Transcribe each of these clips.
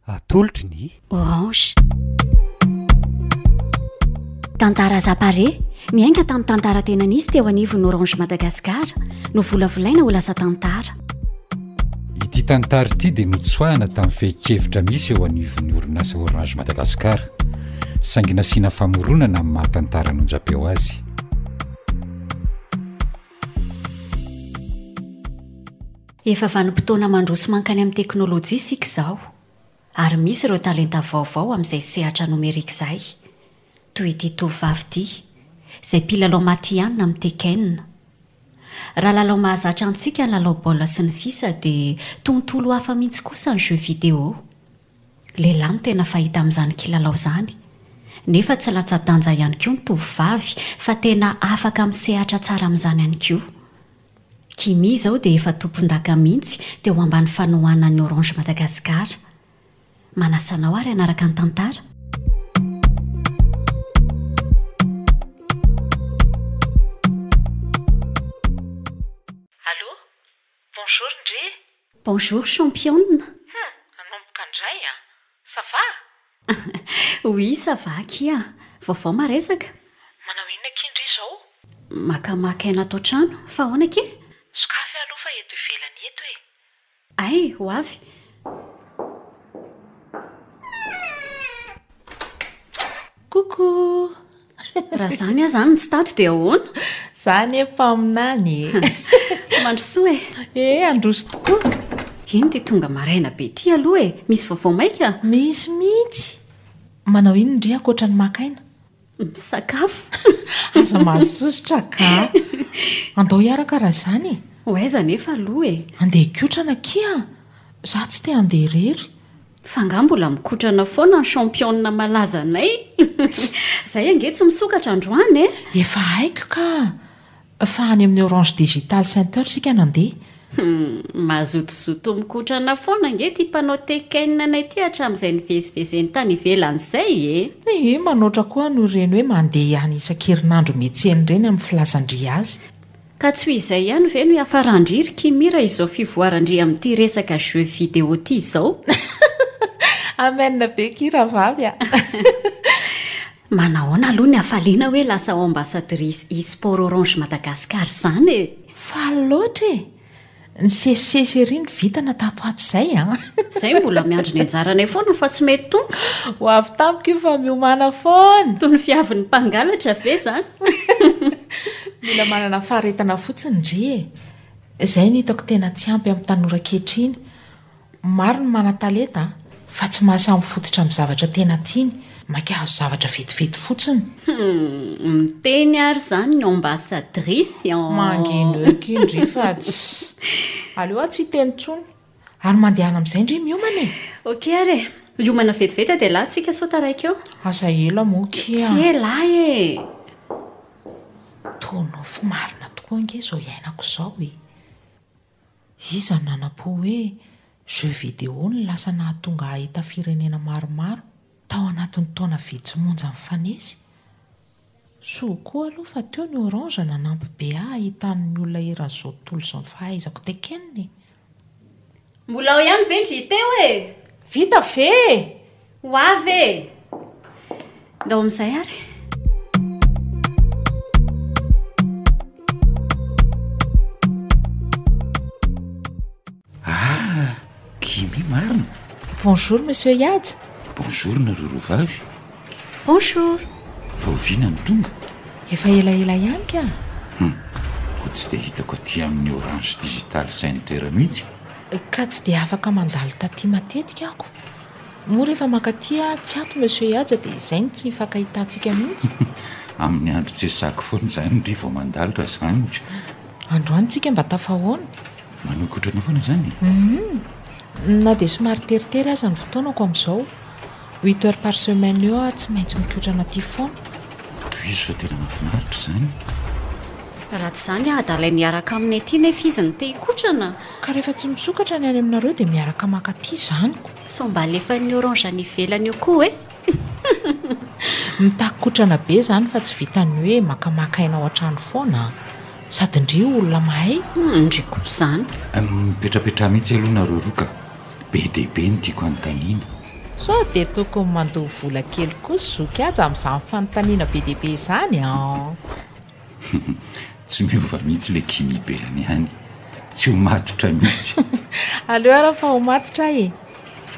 atolotry ny orange tantara zapare miainga tamin'ny tantara tena nisy teo anivon'ny orange madagascar no volavolaina ho lasa tantara ity tantara ity dia notsoahana tamin'ny fehikevitra misy eo anivon'ny orinasa orange madagascar saingy nasiana famoronana amin'ny mahatantara nonjapeo azy Efa vanim-potoana mandroso mankany amin'ny teknolojia isika izao, ary misy ireo talenta vaovao amin'izay sehatra nomerika izay, toy ity tovovavy ity, izay mpilalao matihanina amin'ny Tekken. Raha lalao mahazatra antsika ny lalao baolina sy ny sisa dia tontolo hafa mihitsy kosa ny jeux vidéo. Lehilahy no tena fahita amin'izany kilalao izany. Nefa tsy latsa-danja ihany koa ny tovovavy fa tena afaka misehatra tsara amin'izany ihany koa. Kimmy izao dia efa tompondaka mihitsy teo ambany fanohanan'ny Orange Madagascar. Manasa anao ary hanaraka ny tantara. Allô? Bonjour ndry e! Bonjour championne! Hum! Nanomboka ndray a! Ça va? Oui ça va akia! Vaovao maresaka? Manao inona akia ndry izao? Makamaka aina ato an-trano, fa ahoana akia? Sokafy aloha fa eto ivelany eto e! Ay! Ho avy! Coucou! Raha izany aza no tsy tato dia ahoana? Za anie mpaminany e. Mandrosoa e. Eh, androso tokoa. Iny ity tonga maraina be ity aloha e. Misy vaovao maika? Misy mihitsy. Manao inona re ankoatra ny maka aina? Misakafo. Aza mahasosotra ka. Andao hiaraka raha izany e. Ho aiza anefa aloha e. Andeha hikotrana akia. Za tsy te handeha irery. Fa nga mbola mikotrana foana ny championne malaza anay? Zay ange tsy misokatra androany e! Efa haiko ka! Fa any amin'ny Orange Digital Center isika nandeha. Hum, mazotozoto mikotrana foana ange ity mpanao Tekken anay ity hatramin'izay nivezivezeny tany ivelany izay e! Ehe, manoatra koa an'ireny hoe mandeha ihany isan-kerinandro miantsena ireny amin'ny filazan-dry azy. Ka tsy ho izay ihany ve no hiafaran-dry ry Kimmy raha izao fivoaran-dry amin'ity resaka jeux vidéo ity izao? Amen be ki rahavavy a! Manahoana aloha ny hafaliana hoe lasa ambassadrice e-sport Orange Madagascar izany e! Faly loatra e! Nisesisesy ery ny vintana tato ato izay a! Izay mbola miandry ny anjaranay foana fa tsy mety tonga. Ho avy tamiko io fa miomàna foana! Toy ny fiavin'ny mpangalatra ve izany? Mila manana faharetana fotsiny ndry e! Izay no hitako tena tsy ampy amin'ny tanora ankehitriny. Maro ny manan-talenta fa tsy mahasahy mifototra amin'ny zavatra tena tiany, maika hahazo zavatra vetivety fotsiny. Humm, miteny ary izany ny ambassadrice an! Mangino eo ky ndry fa tsy. Aleo aho tsy hiteny intsony. Ary mandehana amin'izay ndry miomana e! Ok ary e! Miomana vetivety a dia la tsika sao taraiky eo. Aza ela moa ky a! Tsy ela e! Toa nofy marina tokoa ange izao iainako izao e! Iza no nanampo hoe jeux vidéo no lasa nahatonga hahita firenena maromaro tao anatin'ny taona vitsy monja mifanesy? Soa koa aloha fa teo ny orange nanampy be ahy hahitany ny olona eran'izao tontolo izao ny fahaizako tekenina e! Mbola ao ihany ve ndry Teo e! Vita ve e! Ho avy e! Ndao amin'izay ary. Ah, Gimi marina. Bonjour Monsieur Yad. Bonjour nareo roa vavy. Bonjour. Vao vina ny tonga? Efa elaela ihany ka. Hum, ko tsy dia hitako aty amin'ny Orange Digital Center mihitsy. Ka tsy dia afaka mandalo taty matetika aho ko. Moa rehefa mankaty aho tsy ato Monsieur Ihaja dia izay no tsy hifankahitantsika mihitsy? Amin'ny andro tsesaky foana izany ndry vao mandalo raha izany ka! Androany tsika mba tafahaona? Manokotrana foana izany e! Hum! Na dia somary teritery aza ny fotoanako amin'izao. Huit heures par semaine eo aho tsy maintsy mikotrana aty foana. Tohizo fa tena mahafinaritra izany! Raha tsy izany aho adala miaraka aminy aty nefa izy no te hikotrana! Ka rehefa tsy misokatra ny any aminareo dia miaraka maka aty zaniko. Sao mba alefan'ny orange any ivelany eo koa e! Mitaky kotrana be izany fa tsy vitan'ny hoe makamaka aina ao an-trano foana an! Sady ndry io olona mahay. Humm ndry koa izany. Mipetrapetraha mihitsy aloha nareo roa ka! Be dia be ny tiako anontaniana. Sao dia tokony mandoa vola kely koa zoky aja amin'izany fanontaniana be dia be izany an! Humm tsy miova mihitsy le Kimi be any ihany. Tsy ho matotra mihitsy. Aleo ary fa ho matotra ahy e!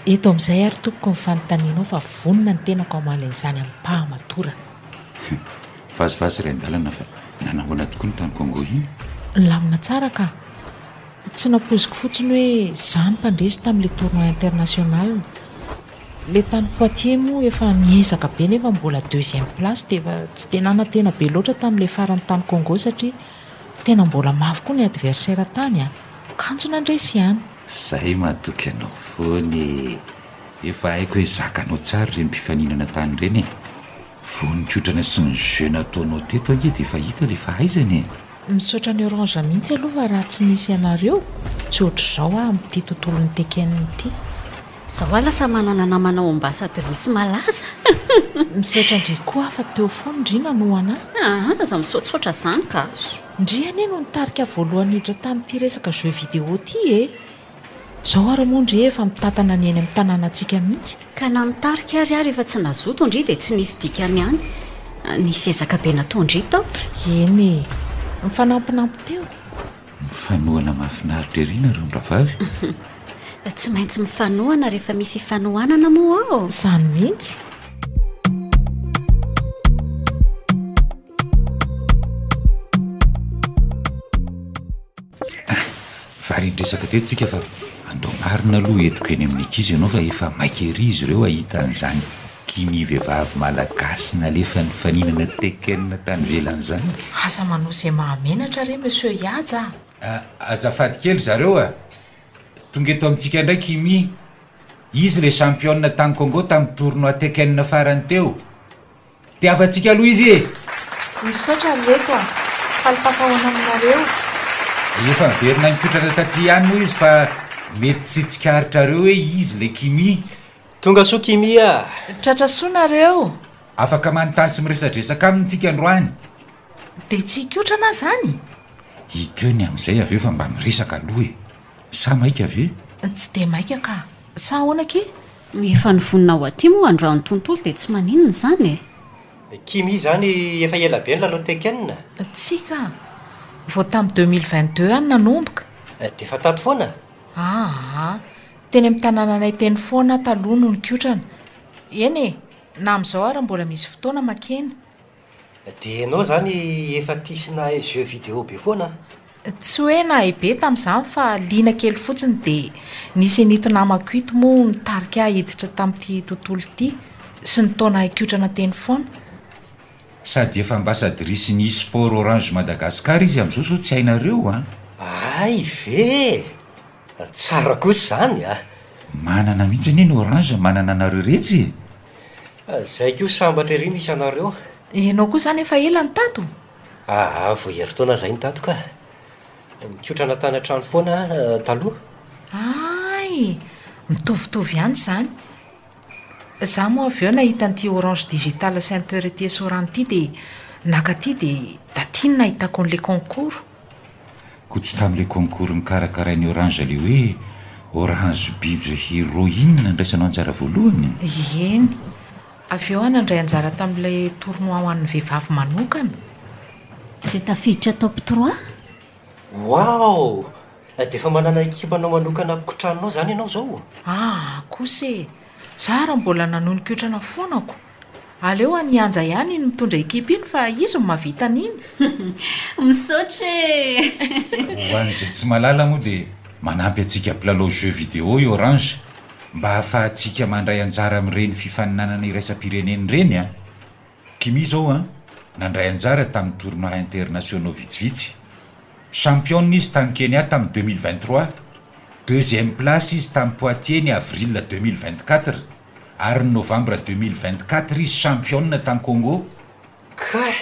Eto amin'izay ary tompoko ny fanontanianao fa vonona ny tenako hamaly an'izany amim-pahamatorana. Vazivazy iray an-dalana fa nanahoana tokoa ny tany Congo iny? Nilamina tsara ka. Tsy nampoiziko fotsiny hoe izaho no mpandresy tamin'ilay tournoi international. Le tany Poitiers moa efa miezaka be nefa mbola deuxième place dia efa tsy dia nanantena be loatra tamin'ilay farany tany Congo satria tena mbola mafy koa ny adversaire tany a! Kanjo nandresy ihany. Zay matoky anao foana e! Efa haiko hoe zakanao tsara ireny mpifaninana tany ireny e! Vao nikotrana sy ny jeux nataonao teto ange dia efa hita ilay fahaizana e! Misaotra an'i Orange mihitsy aloha fa raha tsy nisy ianareo, tsy ohatr'izao aho amin'ity tontolon'ny Tekken ity. Zao ah lasa manana namana ao ambassadrice malaza. Misaotra ndry koa fa teo foana ndry nanoa ana. Ah aza misaotsaotra zany ka. Ndry anie no nitarika voalohany niditra tamin'ity resaka jeux vidéo ity e! Zao ary moa ndry efa mitantana ny eny amin'ny tanànantsika mihitsy. Ka na nitarika ary aho rehefa tsy nazoto ndry dia tsy nisy dikany ihany. Nisy ezaka be natao ndry tao. Eny e! Mifanampinampy teo. Mifanohana mahafinaritra ery nareo ny rahavavy. Tsy maintsy mifanohana rehefa misy ifanohanana moa ô. Izany mihitsy. Varian-dresaka teto tsika fa andao marina aloha entiko eny amin'ny ankizy ianao fa efa maika ery izy ireo hahita an'izany Dimy vehivavy malagasy nalefa nifaninana Tekken tany ivelany zany. Aza manao izay mahamenatra re Monsieur Ihaja a! Azafady kely zareo a! Tonga eto amintsika indray Kimi. Izy ilay championne tany Congo tamin'ny tournoi Tekken farany teo. Tiavantsika aloha izy e! Misaotra ry reto a! Faly tafahoana aminareo. Efa niverina nikotrana taty ihany moa izy fa mety tsy tsikaritrareo hoe izy ilay Kimi. Tonga soa Kimmy ah! Tratra soa nareo! Afaka manontany sy miresadresaka aminy tsika androany. Dia tsy hikotrana zany? Hikeo ny amin'izay avy eo fa mba miresaka aloha e! Sa maika ve? Tsy dia maika ka! Sa ahoana ki? Efa ny vonona ho aty moa androany ny tontolo dia tsy maninona izany e! Kimmy izany efa ela be nilalao Tekken? Tsia ka! Vao tamin'ny deux mille vingt deux any nanomboka. Dia efa tato foana? Aa! Teny amin'ny tanànanay teny foana aho taloha no nikotrana. Eny e! na amin'izao ary mbola misy fotoana makeny. Dia ianao izany efa tia sy nahay jeux vidéo be foana an? Tsy hoe nahay be tamin'izany fa liana kely fotsiny dia nisy an'ito namako ito moa nitarika ahy hiditra tamin'ity tontolo ity sy ny taona hikotrana teny foana. Sady efa ambassadrice ny e-sport Orange Madagascar izy amin'izao sao tsy hainareo an? Hay ve e! Tsara kosa izany a! Manana mihitsy anie ny orange manana anareo rehetra e! Zay koa sambatra ery misy anareo. Ianao koa izany efa ela no tato? Aa vao herintaona izay no tato kah! Nikotrana tany an-trano foana aho taloha. Aay! Mitovitovy ihany izany. Za moa avy eo nahita an'ity orange digital center ety esorano ity dia naka aty dia taty no nahitako an'ilay concours. Koa tsy tamin'ilay concours nokarakarain'ny orange ilay hoe orange bidre hero iny nandraisanao anjara voalohany? Eny. Avy eo aho nandray anjara tamin'ilay tournoi ho an'ny vehivavy manokana. Dia tafiditra top trois? Wow! Dia efa manana ekipanao manokana mpikotranonao izany ianao izao? Ah, kosa e! Za ary mbola nanonikotrana foana ko! Aleo an' i Anja ihany no mitondra ekipa iny fa izy no mahavita an'iny! Misaotra e! Ho an'izay tsy mahalala moa dia manampy antsika mpilalao jeux vidéo i Orange mba ahafahantsika mandray anjara amin'ireny fifaninanana iraisam-pirenena ireny an! Kimi izao an, nandray anjara tamin'ny tournois internationaux vitsivitsy. Championne izy tany Kenya tamin'ny deux mille vingt-trois, deuxième place izy tany Poitiers ny avril deux mille vingt-quatre, ary ny novembre deux mille vingt-quatre izy championne tany Congo. Kay!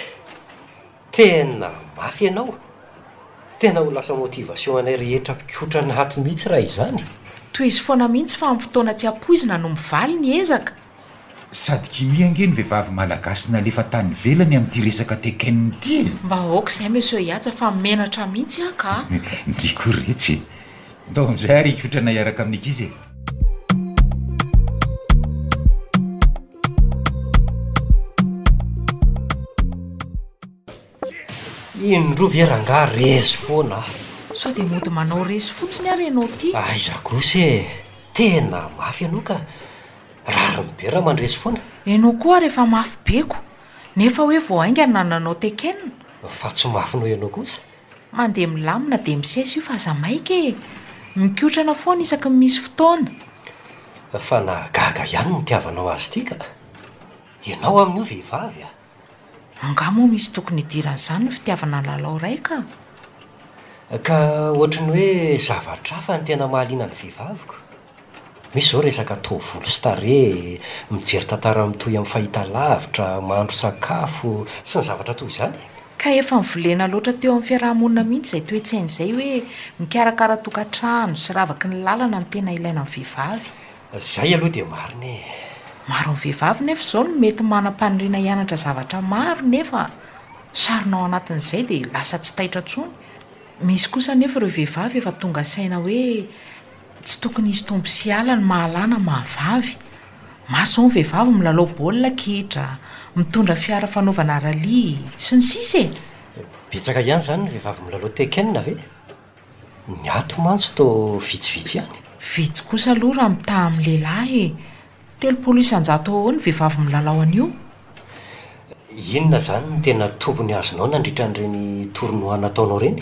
Tena mafy ianao! Tena ho lasa motivation anay rehetra mpikotra ny hat mihitsy raha izany! Tohizo foana mihitsy fa am fotoana tsy ampoizina no mivaly ny ezaka. Sady kimia ange ny vehivavy malagasy nalefa tany ivelany amin'ity resaka Tekken ity e! Mba aoka izay Monsieur Yatsa fa menatra mihitsy aho ka! Ndry koretsy e! Ndao amin'izay ary hikotrana hiaraka amin'ny ankizy e! Indroa ve rangaha resy foana ah! Sao dia mody manao resy fotsiny ary ianao ity? Aiza kosa e! Tena mafy ianao ka! Rariny be raha mandresy foana! Ianao koa ary efa mafy be ko! Nefa hoe vao haingana nanao tekena? Fa tsy mafy noho ianao kosa? Mandeha milamina dia misesy io fa aza maika e! Mikotrana foana isaky ny misy fotoana. Fa nahagaga ihany ny nitiavanao azy ity ka! Ianao amin'io vehivavy a! Angaha moa misy tokony hidiran'izany ny fitiavana lalao ray ka! Ka ohatry ny hoe zavatra hafa ny tena mahaliana ny vehivavy ko! Misy izao resaka taovolo sy tarehy, mijery tantara mitohy amin'ny fahitalavitra, mahandro sakafo, sy ny zavatra toy izany e. Ka efa nivolena loatra teo amin'ny fiaraha-monina mihitsy izay toe-tsaina izay hoe mikarakara tokantrano sy ravaky ny lalana no tena ilaina amin'ny vehivavy. Izay aloha dia marina e. Maro amin'ny vehivavy nefa izao no mety manam-paniriana hianatra zavatra maro nefa sarona ao anatin'izay dia lasa tsy taitra intsony. Misy kosa anefa ireo vehivavy efa tonga saina hoe Tsy tokony hisy tombo sy ala ny mahalahy na mahavavy. Maro izao ny vehivavy milalao baolina kitra, mitondra fiara fanaovana rallye, sy ny sisa e! Betsaka ihany izany ny vehivavy milalao Tekken ve? Ny ato mantsy toa vitsivitsy ihany. Vitsy kosa aloha raha mitaha amin'ny lehilahy e! Telopolo isan-jato eo ho eo ny vehivavy milalao an'io. Inona izany no tena tombony azonao nandritra an'ireny tournoi nataonao ireny?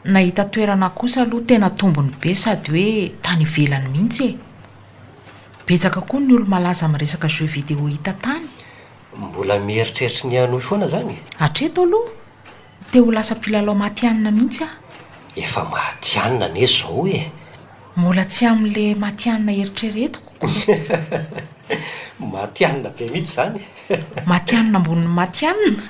Nahita toerana kosa aloha tena tombony be sady hoe tany ivelany mihitsy e! Betsaka koa ny olo-malaza amin'ny resaka jeux vidéo hita tany. Mbola mieritreritra ny hanohy foana izany e! Hatreto aloha, te ho lasa mpilalao matihanina mihitsy aho. Efa matihanina anie izao e! Mbola tsy amin'ny le matianina eritreretiko koa. Matianina be mihitsy izany. Matianina ambonin'ny matianina.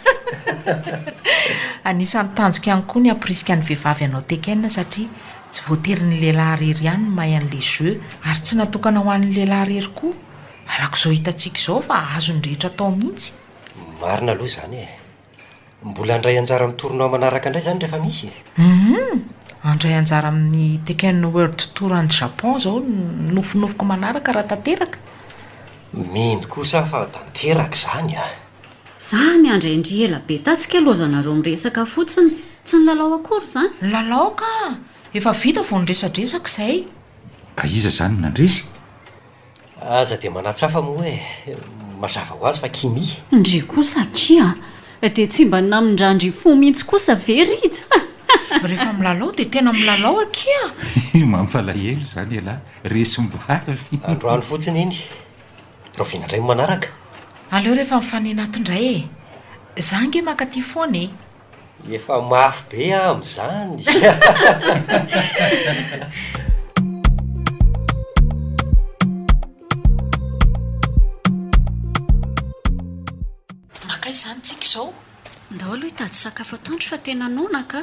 Anisan'ny tanjoko ihany koa ny hampirisika ny vehivavy hanao Tekken satria tsy voatery ny lehilahy irery ihany no mahay an'ilay jeu ary tsy natokana ho an'ny lehilahy irery koa. Arak'izao hitantsika izao fa azon'ny rehetra atao mihitsy. Marina aloha izany e. Mbola handray anjara amin'ny tournoi manaraka indray izany rehefa misy e? Humm! Handray anjara amin'ny Tekken World Tour any Japon izao ny nofinofiko manaraka raha tanteraka. Mino kosa aho fa tanteraka izany a! Zany andry ndry ela be tatsy kay loza nareo miresaka fotsiny tsy nilalao akory zany? Nilalao ka! Efa vita vao niresadresaka izay. Ka iza izany no nandresy? Aza dia manatsafa moa e! Mazava ho azy fa Kimi. Ndry kosa akia an! Dia tsy mba namindrandry fo mihitsy kosa ve Rija? Rehefa milalao dia tena milalao akia an! Mampalahelo izany ialahy, resim-bavy. Androany fotsiny iny. Rahoviana indray ny manaraka? Aleo rehefa mifaninata indray e! Za ange mankaty foana e! Efa mafy be aho amin'izany. Mankaiza izany isika izao? Ndao aloha hitady sakafo atoandro fa tena noana ka!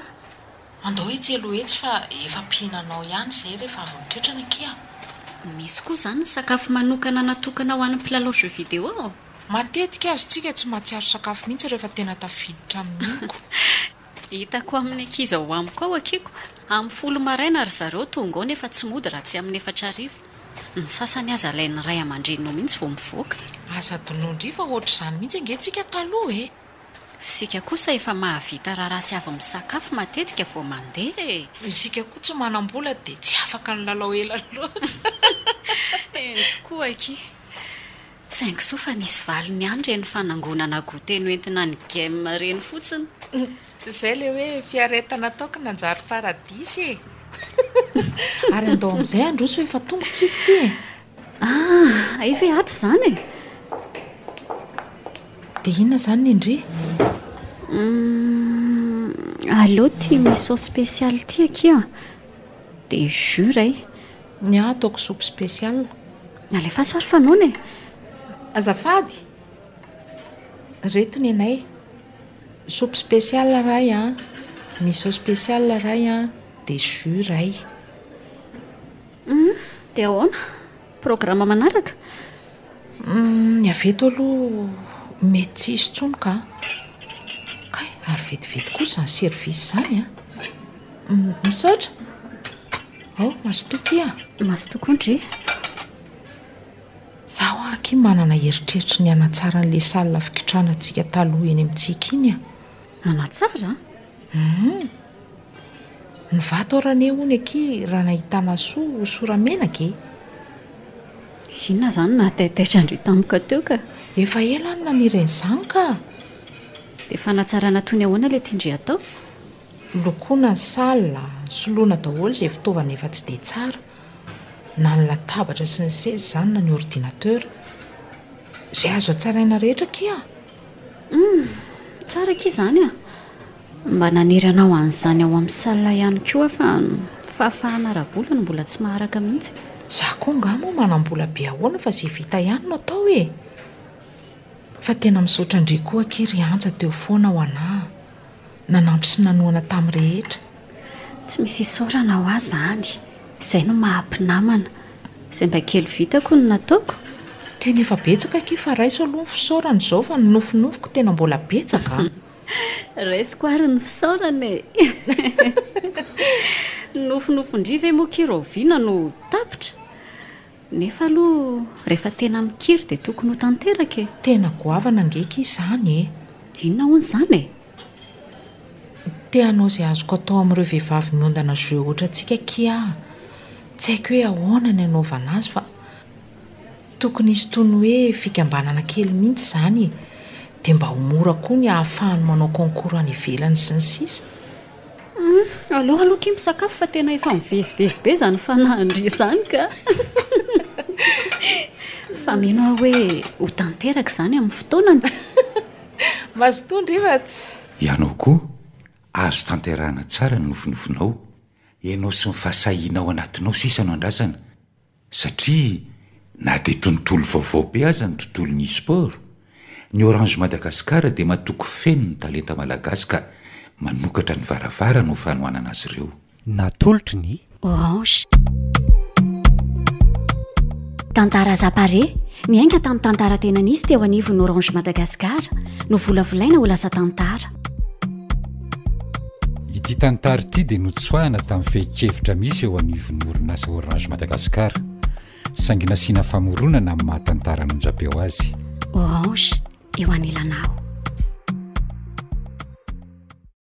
Andao etsy aloha etsy fa efa mpihinanao ihany izay rehefa avy mikotrana akia. Misy koa izany ny sakafo manokana natokana ho an'ny mpilalao jeux vidéo? Matetika azontsika tsy mahatsiaro sakafo mihitsy rehefa tena tafiditra amin'ny oko. Hitako amin'ny ankizy ao amiko ao akiko, amin'ny folo maraina ry zareo tonga ao nefa tsy mody raha tsy amin'ny efatra hariva. Ny sasany aza alain'ny ray aman-dreniny ao mihitsy vao mivoaka. Aza adinoy ndry fa ohatr'izany mihitsy ange tsika taloha e! F'isika kosa efa mahavita raharaha sy avy misakafo matetika vao mandeha e! Isika koa tsy manam-bola dia tsy afaka nilalao ela loatra. Eny tokoa akia. Saingy soa fa nisy valiny ihany ireny fanangonana goûter noentina ny Gem ireny fotsiny. Izay ilay hoe fiaretana ataoko nanjary paradisa e! Ary andao amin'izay handroso efa tonga tsiko ity e! Ah, efa ato izany e! Dia inona izany ny ndry? Allo, tia miso spécial ity akia. Dia jure e! Ny ahy ataoko soupe spécial. Alefaso ary fa noana e! Azafady! Reto nenay. Soupe spécial ray an! Miso spécial ray an! Dia jus ray. Hum, dia ahoana? Programa manaraka? Ny avy eto aloha mety tsy hisy intsony ka. Kay, ary vetivety koa izany service izany an! Misaotra! Ao, mazotoa kia! Mazotoa koa ndry! Izaho hoa akia manana eritreritry ny hanatsara an'ilay salle fikitranantsika taloha eny amintsika iny an! Hanatsara? Hum! Nivato aho rane hono akia raha nahita masoa ho sora-menaka e! Inona izany nahataitaitra-ndry tampoka teo ka? Efa ela aho no naniry an'izany ka! Dia fanatsarana toy ny ahoana ilay tian-dry atao? Lokoina ny salle, soloina daholo izay fitaovana efa tsy dia tsara, na ny latabatra sy ny seza izany na ny ordinateur. Izay azo hatsaraina rehetra akia! Humm! Tsara akia izany an! Mba naniry hanao an'izany ao amin'ny salle ihany koa aho fa ny fahafahana ara-bola no mbola tsy maharaka mihitsy. Za koa angaha moa manam-bola be ahoana fa ze vita ihany no atao e! Fa tena misaotra an-dry koa akia ry Anja teo foana ho anah, nanampy sy nanohana tamin'ny rehetra. Tsy misy isaorana ho ahy zany, izay no maha mpinamana. Izay mba kely vitako no nataoko. Tena efa betsaka akia fa raiso aloha ny fisaorana izao fa ny nofinofiko tena mbola betsaka a! Raisiko ary ny fisaorana e! Ny nofinofin-dry ve moa ki raoviana no ho tapitra? Nefa aloha rehefa tena mikiry dia tokony ho tanteraka e! Tena goavana ange ki izany e! Inona hono izany e? Te hanao izay azoko atao amin'ireo vehivavy miondana jeux otrantsika ki aho. Tsy haiko hoe ahoana ny anaovana azy fa Tokony hisy toy ny hoe fikambanana kely mihitsy izany e! Dia mba ho mora koa ny ahafahany manao concours any ivelany sy ny sisa. Humm, aleo aloha akia misakafo fa tena efa mivezivezy be izany fanahy Andry izany ka! Fa mino aho hoe ho tanteraka izany amin'ny fotoanany! Mazotoa ndry va tsy? Ianao koa azo tanterahana tsara ny nofinofinao, ianao sy ny fahasahianao anatinao sisa no andrasana, Satria na dia tontolo vaovao be aza ny tontolon'ny e-sport, ny Orange Madagascar dia matoky feno ny talenta malagasy ka manokatra ny varavarany ho fanohanana azy ireo. Natolotry ny. Orange. Tantara Zapare, miainga tamin'ny tantara tena nisy teo anivon'ny Orange Madagascar, novolavolaina ho lasa tantara. Ity tantara ity dia notsoahina tamin'ny fehin-kevitra misy eo anivon'ny orinasa Orange Madagascar, saingy nasiana famoronana amin'ny maha tantara an'onjam-peo azy. Orange eo anilanao.